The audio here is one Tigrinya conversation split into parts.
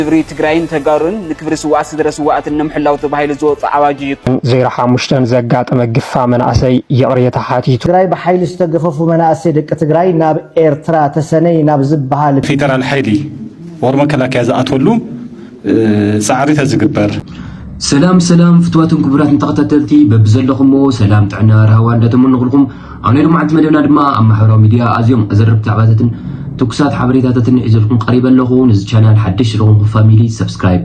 ክብሪ ትግራይን ተጋሩን ንክብሪ ስውኣት ስድረ ስውኣትን ንምሕላው ተባሂሉ ዝወፀ ኣዋጅ እዩ። ን ዜሮ ሓሙሽተ ዘጋጠመ ግፋ መናእሰይ ይቕሬታ ሓቲቱ። ትግራይ ብሓይሊ ዝተገፈፉ መናእሰይ ደቂ ትግራይ ናብ ኤርትራ ተሰነይ ናብ ዝብሃል ክልል። ፌደራል ሓይሊ or መከላከያ ዝኣትወሉ ፃዕሪ ተዝግበር። ሰላም ሰላም ፍትዋትን ክቡራትን ተኸታተልቲ በብዘለኹሞ ሰላም ጥዕና ራህዋ እንዳተመነኹልኹም፣ ኣብ ናይ ሎማዕንቲ መደብና ድማ ኣብ ማሕበራዊ ሚድያ ኣዝዮም ኣዘረብቲ ዛዕባታትን ትኩሳት ሓበሬታታትን ሒዘልኩም ቀሪበ ኣለኹ። ንዚ ቻናል ሓደሽ ዝኾንኩም ፋሚሊ ሰብስክራይብ፣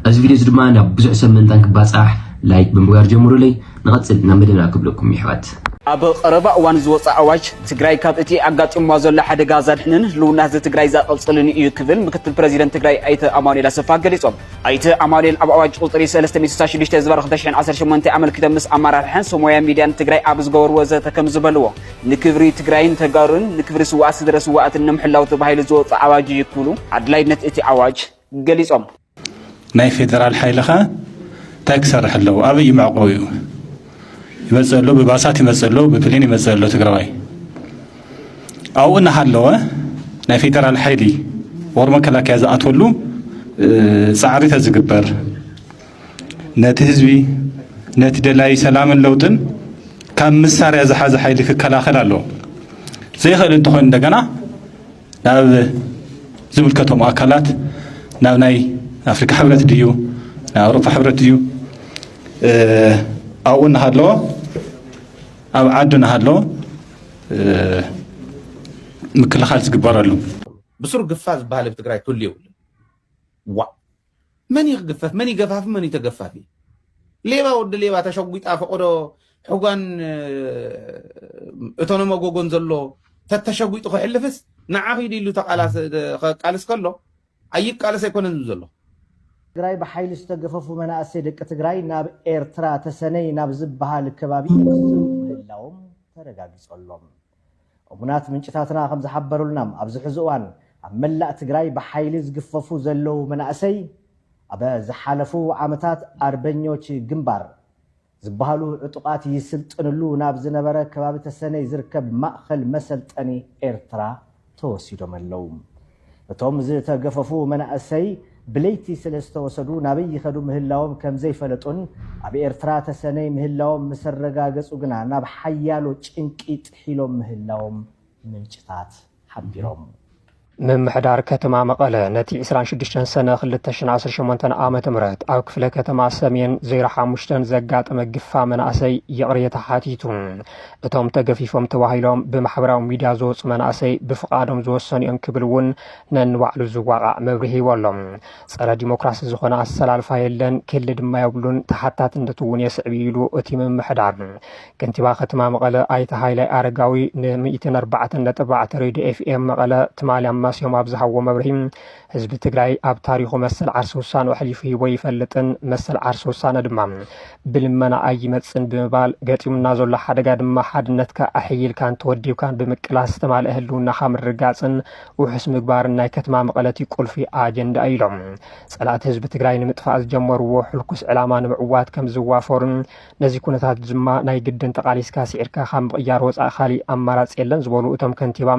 እዚ ቪድዮ እዚ ድማ ናብ ብዙሕ ሰብ ምእንታን ክባጻሕ ላይክ ብምግባር ጀምሩለይ። ንቐጽል ናብ መደብና ክብለኩም የሕዋት። ኣብ ቐረባ እዋን ዝወፀ ኣዋጅ ትግራይ ካብ እቲ ኣጋጢሙዋ ዘሎ ሓደጋ ዘድሕንን ህልውና ህዝቢ ትግራይ ዘቐፅልን ኢዩ ክብል ምክትል ፕረዚደንት ትግራይ ኣይተ ኣማኑኤል ኣሰፋ ገሊፆም። ኣይተ ኣማኑኤል ኣብ ኣዋጅ ቁፅሪ ሰለስተ ሚእቲ ስሳን ሽዱሽተ ዝባር ክልተ ሽሕን ዓሰርተ ሸሞንተን ኣመልኪቶም ምስ ኣመራርሓን ሰብ ሞያ ሚድያን ትግራይ ኣብ ዝገበርዎ ዘተ ከምዝበልዎ፣ ንክብሪ ትግራይን ተጋሩን፣ ንክብሪ ስውኣት ስድረ ስውኣትን ንምሕላው ተባሂሉ ዝወፅኣ ኣዋጅ እዩ ክብሉ ኣድላይነት እቲ ኣዋጅ ገሊፆም። ናይ ፌደራል ሓይሊ ከ እንታይ ክሰርሕ ኣለዎ? ኣበይ እዩ መዕቆቢኡ? ይመፅእ ኣሎ፣ ብባሳት ይመፅእ ኣሎ፣ ብፕሌን ይመፅእ ኣሎ ትግራዋይ። ኣብኡ እናሃለወ ናይ ፌደራል ሓይሊ ወር መከላከያ ዝኣትወሉ ፃዕሪ ተዝግበር ነቲ ህዝቢ ነቲ ደላይ ሰላምን ለውጥን ካብ መሳርያ ዝሓዘ ሓይሊ ክከላኸል ኣለዎ ዘይኽእል እንተኾይኑ እንደገና ናብ ዝምልከቶም ኣካላት ናብ ናይ ኣፍሪካ ሕብረት ድዩ ናይ ኣውሮፓ ሕብረት ድዩ ኣብኡ እናሃለዎ ኣብ ዓዱ ናሃሎ ምክልኻል ዝግበረሉ። ብሱር ግፋ ዝባሃል እብ ትግራይ ክህሉ የብሉን ዋእ መን እዩ ክግፈፍ መን እዩ ገፋፊ መን እዩ ተገፋፊ ሌባ ወዲ ሌባ ተሸጒጣ ፈቆዶ ሕጓን እቶነ መጎጎን ዘሎ ተተሸጒጡ ክሕልፍስ ንዓ ኺዱ ኢሉ ተቃላስ ከቃልስ ከሎ ኣይቃለስ ኣይኮነን ዝብል ዘሎ። ትግራይ ብሓይሊ ዝተገፈፉ መናእሰይ ደቂ ትግራይ ናብ ኤርትራ ተሰነይ ናብ ዝብሃል ከባቢ ይቕዝፉ ምህላዎም ተረጋጊፁ ኣሎ። እሙናት ምንጭታትና ከምዝሓበሩልና ኣብዚ ሕዚ እዋን ኣብ መላእ ትግራይ ብሓይሊ ዝግፈፉ ዘለዉ መናእሰይ ኣብ ዝሓለፉ ዓመታት ኣርበኞች ግንባር፣ ዝበሃሉ ዕጡቓት ይስልጥንሉ ናብ ዝነበረ ከባቢ ተሰነይ ዝርከብ ማእኸል መሰልጠኒ ኤርትራ ተወሲዶም ኣለው። እቶም ዝተገፈፉ መናእሰይ ብለይቲ ስለዝተወሰዱ ናበይ ይኸዱ ምህላዎም ከምዘይፈለጡን ኣብ ኤርትራ ተሰነይ ምህላዎም ምሰረጋገፁ ግና ናብ ሓያሎ ጭንቂ ጥሒሎም ምህላዎም ምንጭታት ሓቢሮም። ምምሕዳር ከተማ መቐለ ነቲ ዕስራን ሽዱሽተን ሰነ ክልተ ሽሕን ዓሰርተ ሸሞንተን ዓመተ ምህረት ኣብ ክፍለ ከተማ ሰሜን ዜሮ ሓሙሽተ ዘጋጠመ ግፋ መናእሰይ ይቕሬታ ሓቲቱ። እቶም ተገፊፎም ተባሂሎም ብማሕበራዊ ሚድያ ዝወፁ መናእሰይ ብፍቓዶም ዝወሰኑ እዮም ክብል እውን ነንባዕሉ ዝዋቓዕ መብርሂ ሂቡ ኣሎ። ፀረ ዲሞክራሲ ዝኾነ ኣሰላልፋ የለን፣ ክህሊ ድማ የብሉን፣ ተሓታትነት እውን የስዕብ እዩ ኢሉ እቲ ምምሕዳር። ከንቲባ ከተማ መቐለ ኣይተ ሃይላይ ኣረጋዊ ን ሚእትን ኣርባዕተን ነጥቢ ኣርባዕተ ሬድዮ ኤፍኤም መቐለ ትማሊ ኣማስዮም ኣብ ዝሃብዎ መብርሂ ህዝቢ ትግራይ ኣብ ታሪኹ መሰል ዓርሲ ውሳኑ ኣሕሊፉ ሂቦ ኣይፈልጥን፣ መሰል ዓርሲ ውሳነ ድማ ብልመና ኣይመፅን ብምባል ገጢሙና ዘሎ ሓደጋ ድማ ሓድነትካ ኣሕይልካን ተወዲብካን ብምቅላስ ዝተማልአ ህልውናኻ ምርግጋፅን ውሑስ ምግባርን ናይ ከተማ መቐለ እቲ ቁልፊ ኣጀንዳ እዩ ኢሎም። ፀላእቲ ህዝቢ ትግራይ ንምጥፋእ ዝጀመርዎ ሕልኩስ ዕላማ ንምዕዋት ከም ዝዋፈሩን ነዚ ኩነታት ድማ ናይ ግድን ተቓሊስካ ስዒርካ ካብ ምቕያር ወፃኢ ካሊእ ኣማራፂ የለን ዝበሉ እቶም ከንቲባ፣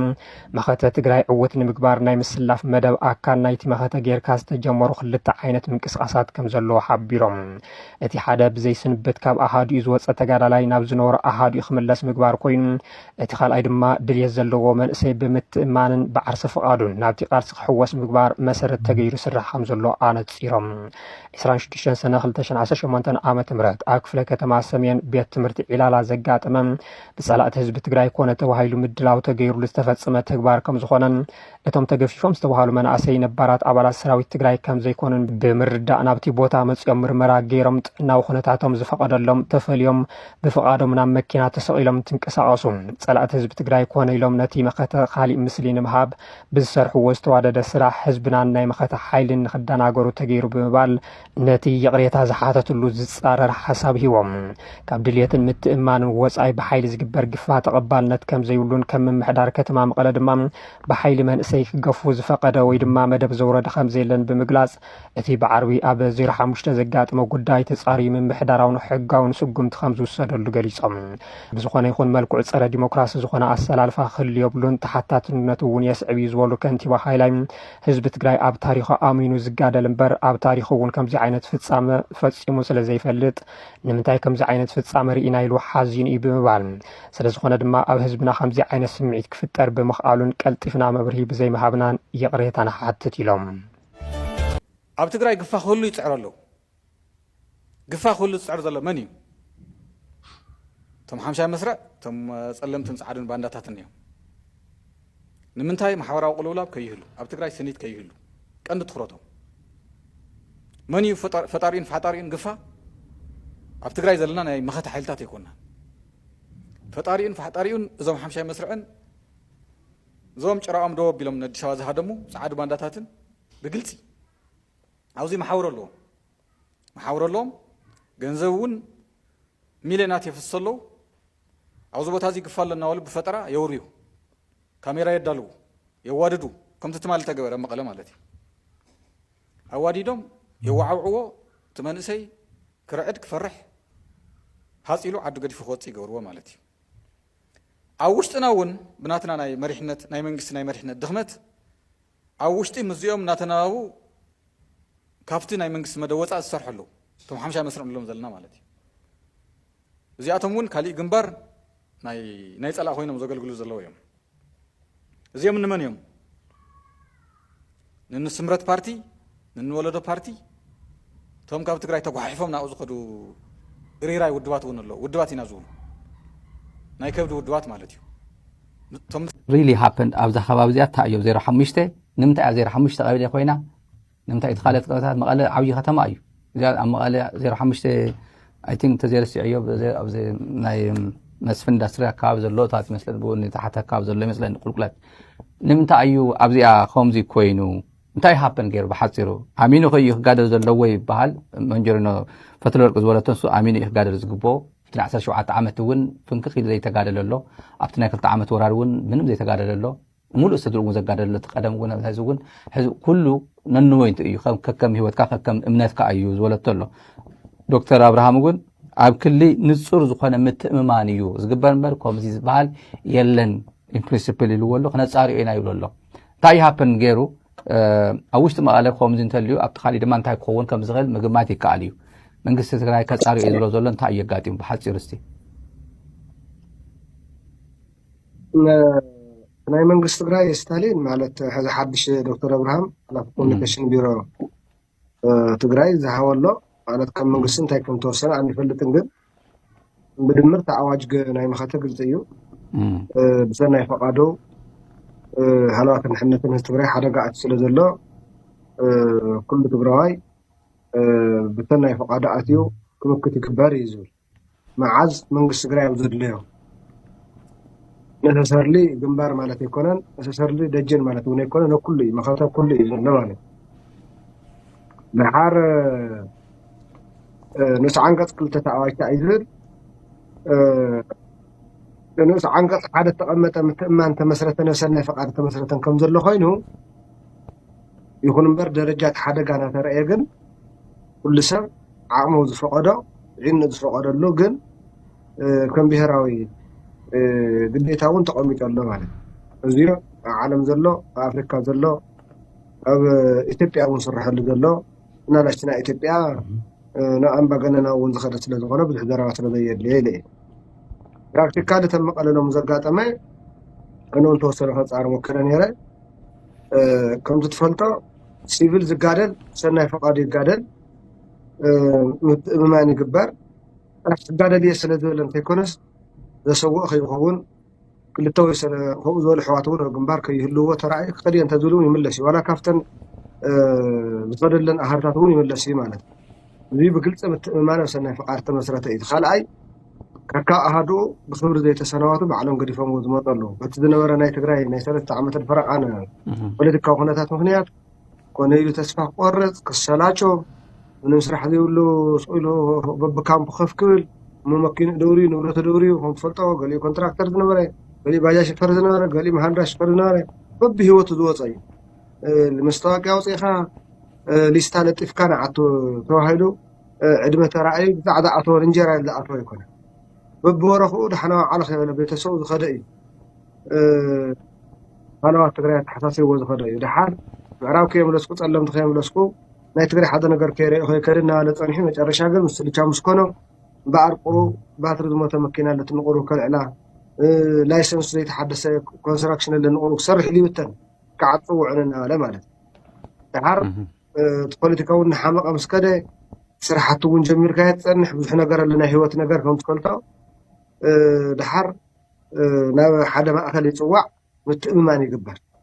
መኸተ ትግራይ ዕውት ንምግባር ናይ ምስላፍ መደብ ኣካል ናይቲ መኸተ ገይርካ ዝተጀመሩ ክልተ ዓይነት ምንቅስቓሳት ከምዘለዉ ሓቢሮም። እቲ ሓደ ብዘይ ስንብት ካብ ኣሃዱኡ ዝወፀ ተጋዳላይ ናብ ዝነበሮ ኣሃዱኡ ክምለስ ምግባር ኮይኑ እቲ ካልኣይ ድማ ድልየት ዘለዎ መንእሰይ ብምትእምማንን ብዓርሰ ፍቓዱን ናብቲ ቃልሲ ክሕወስ ምግባር መሰረት ተገይሩ ይስራሕ ከምዘሎ ኣነፂሮም። ዕስራን ሽዱሽተን ሰነ ክልተ ሽሕን ዓሰርተ ሸሞንተን ዓመተ ምህረት ኣብ ክፍለ ከተማ ሰሜን ቤት ትምህርቲ ዒላላ ዘጋጠመ ብፀላእቲ ህዝቢ ትግራይ ኮነ ተባሂሉ ምድላው ተገይሩሉ ዝተፈፀመ ተግባር ከም ዝኾነን እቶም ተገፊፎም ዝተባሃሉ መናእሰይ ነባራት ኣባላት ሰራዊት ትግራይ ከም ዘይኮኑን ብምርዳእ ናብቲ ቦታ መፂኦም ምርመራ ገይሮም ጥዕናዊ ኩነታቶም ዝፈቐደሎም ተፈልዮም ብፍቓዶም ናብ መኪና ተሰቒሎም እንትንቀሳቐሱ ፀላእቲ ህዝቢ ትግራይ ኮነ ኢሎም ነቲ መኸተ ካሊእ ምስሊ ንምሃብ ብዝሰርሕዎ ዝተዋደደ ስራሕ ህዝብናን ናይ መኸተ ሓይልን ንክደናገሩ ተገይሩ ብምባል ነቲ ይቕሬታ ዝሓተትሉ ዝፃረር ሓሳብ ሂቦም። ካብ ድልየትን ምትእምማንን ወፃኢ ብሓይሊ ዝግበር ግፋ ተቐባልነት ከምዘይብሉን ከም ምምሕዳር ከተማ መቐለ ድማ ብሓይሊ መንእሰይ ክገፉ ዝፈቐደ ወይ ድማ መደብ ዘውረደ ከምዘየለን ብምግላፅ እቲ ብዓርቢ ኣብ ዜሮ ሓሙሽተ ዘጋጥመ ጉዳይ ተጻርዩ ምምሕዳራውን ሕጋውን ስጉምቲ ከም ዝውሰደሉ ገሊጾም። ብዝኾነ ይኹን መልክዑ ጸረ ዲሞክራሲ ዝኾነ ኣሰላልፋ ክህሉ የብሉን፣ ተሓታትነቱ እውን የስዕብ እዩ ዝበሉ ከንቲባ ሃይላይ፣ ህዝቢ ትግራይ ኣብ ታሪኹ ኣሚኑ ዝጋደል እምበር ኣብ ታሪኹ እውን ከምዚ ዓይነት ፍጻመ ፈጺሙ ስለ ዘይፈልጥ ንምንታይ ከምዚ ዓይነት ፍጻመ ርኢና ኢሉ ሓዚኑ እዩ ብምባል ስለ ዝኾነ ድማ ኣብ ህዝብና ከምዚ ዓይነት ስምዒት ክፍጠር ብምኽኣሉን ቀልጢፍና መብርሂ ብዘይምሃብናን ይቕሬታ ንሓትት ኢሎም። ኣብ ትግራይ ግፋ ክህሉ ይፅዕሩ ኣለው። ግፋ ክህሉ ዝፅዕር ዘሎ መን እዩ? እቶም ሓምሻይ መስርዕ እቶም ፀለምትን ፃዓዱን ባንዳታትን እዮም። ንምንታይ ማሕበራዊ ቅልውላብ ከይህሉ፣ ኣብ ትግራይ ስኒት ከይህሉ ቀንዲ ትኩረቶም መን እዩ? ፈጣሪኡን ፋሕጣሪኡን ግፋ ኣብ ትግራይ ዘለና ናይ መኸተ ሓይልታት ኣይኮናን። ፈጣሪኡን ፋሕጣሪኡን እዞም ሓምሻይ መስርዕን እዞም ጭራኦም ደው ኣቢሎም ንኣዲስ ኣበባ ዝሃደሙ ጸዓዱ ባንዳታትን ብግልጺ ኣብዙይ መሓውር ኣለዎም መሓውር ኣለዎም ገንዘብ እውን ሚልዮናት የፍስሶ ኣለዉ ኣብዚ ቦታ እዚ ግፋ ኣሎ እናበሉ ብፈጠራ የውርዩ ካሜራ የዳልዉ የዋድዱ ከምቲ ትማሊ ተገበረ መቐለ ማለት እዩ ኣዋዲዶም የዋዓውዕዎ እቲ መንእሰይ ክርዕድ ክፈርሕ ሃፅ ኢሉ ዓዱ ገዲፉ ክወፅእ ይገብርዎ ማለት እዩ ኣብ ውሽጥና እውን ብናትና ናይ መሪሕነት ናይ መንግስቲ ናይ መሪሕነት ድኽመት ኣብ ውሽጢ ምስዚኦም እናተነባቡ ካብቲ ናይ መንግስቲ መደብ ወፃእ ዝሰርሑ ኣለዉ እቶም ሓምሻይ መስርዕ ንብሎም ዘለና ማለት እዩ እዚኣቶም እውን ካሊእ ግንባር ናይ ፀላእ ኮይኖም ዘገልግሉ ዘለዉ እዮም እዚኦም ንመን እዮም? ንንስምረት ፓርቲ፣ ንንወለዶ ፓርቲ፣ እቶም ካብ ትግራይ ተጓሓሒፎም ናብኡ ዝኸዱ እሪራይ ውድባት እውን ኣለዉ። ውድባት ኢና ዝብሉ ናይ ከብዲ ውድባት ማለት እዩ። ሪሊ ሃፐንድ ኣብዛ ከባቢ እዚኣ እንታይ እዮ ዜሮ ሓሙሽተ ንምንታይ እያ ዜሮ ሓሙሽተ ቀበሌ ኮይና ንምንታይ እቲ ካልኦት ከባቢታት መቐለ ዓብዪ ከተማ እዩ እዚኣ ኣብ መቐለ ዜሮ ሓሙሽተ ኣይ ቲንክ እንተዘይረሲዐዮ ኣብዚ ናይ መስፍን ኢንዳስትሪ ኣካባቢ ዘሎ ታት ይመስለኒ ብውን ተሓቲ ኣካባቢ ዘሎ ይመስለኒ ቁልቁለት ንምንታይ እዩ ኣብዚኣ ከምዚ ኮይኑ እንታይ ሃፐን ገይሩ ብሓፂሩ ኣሚኑ ከዩ ክጋደል ዘለዎ ይበሃል መንጀሪኖ ፈትለ ወርቂ ዝበለቶ ንሱ ኣሚኑ እዩ ክጋደል ዝግብኦ እቲ ናይ 17 ዓመት እውን ፍንክኽ ኢሉ ዘይተጋደለ ኣሎ ኣብቲ ናይ ክልተ ዓመት ወራር እውን ምንም ዘይተጋደለ ኣሎ ሙሉእ ስድርኡ እውን ዘጋደሉ እቲ ቀደም እውን ኣብዚ ሕዚ እውን ሕዚ ኩሉ ነንወይንቱ እዩ ከከም ሂወትካ ከከም እምነትካ እዩ ዝበለቶ ኣሎ ዶክተር ኣብርሃም እውን ኣብ ክሊ ንፁር ዝኾነ ምትእምማን እዩ ዝግበር እምበር ከምዚ ዝበሃል የለን ኢንፕሪንስፕል ኢልዎ ኣሎ ክነፃሪኦ ኢና ይብሎ ኣሎ እንታይ ይሃፕን ገይሩ ኣብ ውሽጢ መቐለ ከምዚ እንተልዩ ኣብቲ ካሊእ ድማ እንታይ ክኸውን ከም ዝኽእል ምግማት ይከኣል እዩ መንግስቲ ትግራይ ከፃሪኦ እዩ ዝብሎ ዘሎ እንታይ እዩ ኣጋጢሙ ብሓፂሩ እስቲ ናይ መንግስቲ ትግራይ ስታሊን ማለት ሕዚ ሓድሽ ዶክተር ኣብርሃም ሓላፊ ኮሚኒኬሽን ቢሮ ትግራይ ዝሃበሎ ማለት ካብ መንግስቲ እንታይ ከም ተወሰነ ኣይንፈልጥን፣ ግን ብድምር እቲ ኣዋጅ ናይ መኸተ ግልፂ እዩ። ብሰናይ ፈቃዶ ሃለዋትን ድሕነትን ህዝቢ ትግራይ ሓደጋ ኣት ስለ ዘሎ ኩሉ ትግራዋይ ብሰናይ ፈቃዶ ኣትዩ ክምክት ይግበር እዩ ዝብል መዓዝ መንግስቲ ትግራይ ኣብ ዘድለዮ ነሰሰርሊ ግንባር ማለት ኣይኮነን፣ ነሰሰርሊ ደጀን ማለት እውን ኣይኮነ ነኩሉ እዩ መኸተ ኩሉ እዩ ዘሎ ማለት ድሓር ንኡስ ዓንቀፅ ክልተ ተኣዋጅታ እዩ ዝብል ንኡስ ዓንቀፅ ሓደ ተቐመጠ ምትእማን ተመስረተ ነሰናይ ፈቃድ ተመስረተን ከም ዘሎ ኮይኑ ይኹን እምበር ደረጃ እቲ ሓደጋ እናተረእየ ግን ኩሉ ሰብ ዓቕሙ ዝፈቐዶ ዒኑ ዝፈቐደሉ ግን ከም ብሄራዊ ግዴታ እውን ተቐሚጡ ኣሎ ማለት እዩ። እዚዮ ኣብ ዓለም ዘሎ ኣብ ኣፍሪካ ዘሎ ኣብ ኢትዮጵያ እውን ዝስረሐሉ ዘሎ እና ናሽትና ኢትዮጵያ ናብ ኣምባገነናዊ እውን ዝኸደ ስለዝኾነ ብዙሕ ዘረባ ስለዘየድልዮ ኢለ እዩ። ፕራክቲካሊ እተን መቐለ ሎሚ ዘጋጠመ ኣነ እውን ተወሰነ ከፃር ሞከረ ነይረ ከምቲ ትፈልጦ ሲቪል ዝጋደል ሰናይ ፈቃዱ ይጋደል ምትእምማን ይግበር ጥራሕ ክጋደልየ ስለ ዝበለ እንተይኮነስ ዘሰውኦ ከይኸውን ክልተ ወይ ሰለ ከምኡ ዝበሉ ኣሕዋት እውን ኣብ ግንባር ከይህልዎ ተራእዩ ክኸድ እየ እንተዝብል እውን ይምለስ እዩ ዋላ ካብተን ዝኸደለን ኣሃርታት እውን ይምለስ እዩ ማለት እዩ እዚ ብግልፂ ምትእምማን ኣብ ሰናይ ፍቃድ ተመስረተ እዩ ካልኣይ ከካ ኣሃዱ ብክብሪ ዘይተሰናዋቱ ባዕሎም ገዲፎምዎ ዝመፁ ኣለዉ በቲ ዝነበረ ናይ ትግራይ ናይ ሰለስተ ዓመትን ፈረቃን ፖለቲካዊ ኩነታት ምክንያት ኮነ ኢሉ ተስፋ ክቆርፅ፣ ክሰላቾ፣ ምንም ስራሕ ዘይብሉ ስቕ ኢሉ በብካምፑ ከፍ ክብል፣ እሞ መኪንኡ ደውርዩ፣ ንብረቱ ደውርዩ፣ ከም ትፈልጦ ገሊኡ ኮንትራክተር ዝነበረ፣ ገሊኡ ባጃጅ ሸፈር ዝነበረ፣ ገሊኡ መሃንድራ ሸፈር ዝነበረ፣ በብሂወቱ ዝወፀ እዩ። መስታወቅያ ኣውፂእኻ ሊስታ ለጢፍካ ንዓቱ ተባሂሉ ዕድመ ተራእዩ ብዛዕ ዝኣተወ እንጀራ ኢሉ ዝኣተወ ኣይኮነን። በብወረኽኡ ደሓና ወዓልኻ ይበለ ቤተሰቡ ዝኸደ እዩ። ሃለዋት ትግራይ ኣተሓሳሲብዎ ዝኸዶ እዩ። ደሓር ምዕራብ ከየምለስኩ ጸለምቲ ከየምለስኩ ናይ ትግራይ ሓደ ነገር ከይረኦ ከይከደ እናበለ ጸኒሑ መጨረሻ ግን ምስ ልቻ ምስ ኮኖ እምበኣር ቁሩ ባትሪ ዝሞተ መኪና ኣለት ንቁሩ ከልዕላ ላይሰንሱ ዘይተሓደሰ ኮንስትራክሽን ኣለ ንቁሩ ክሰርሕ ኢሉ ይብተን ክዓፅ ውዕል እናበለ ማለት እዩ። ደሓር እቲ ፖለቲካ ውን እናሓመቐ ምስ ከደ ስራሕቲ ውን ጀሚርካዮ ትፀንሕ ብዙሕ ነገር ኣሎ ናይ ሂወት ነገር ከም ትፈልጦ ደሓር ናብ ሓደ ማእኸል ይፅዋዕ ምትእምማን ይግበር።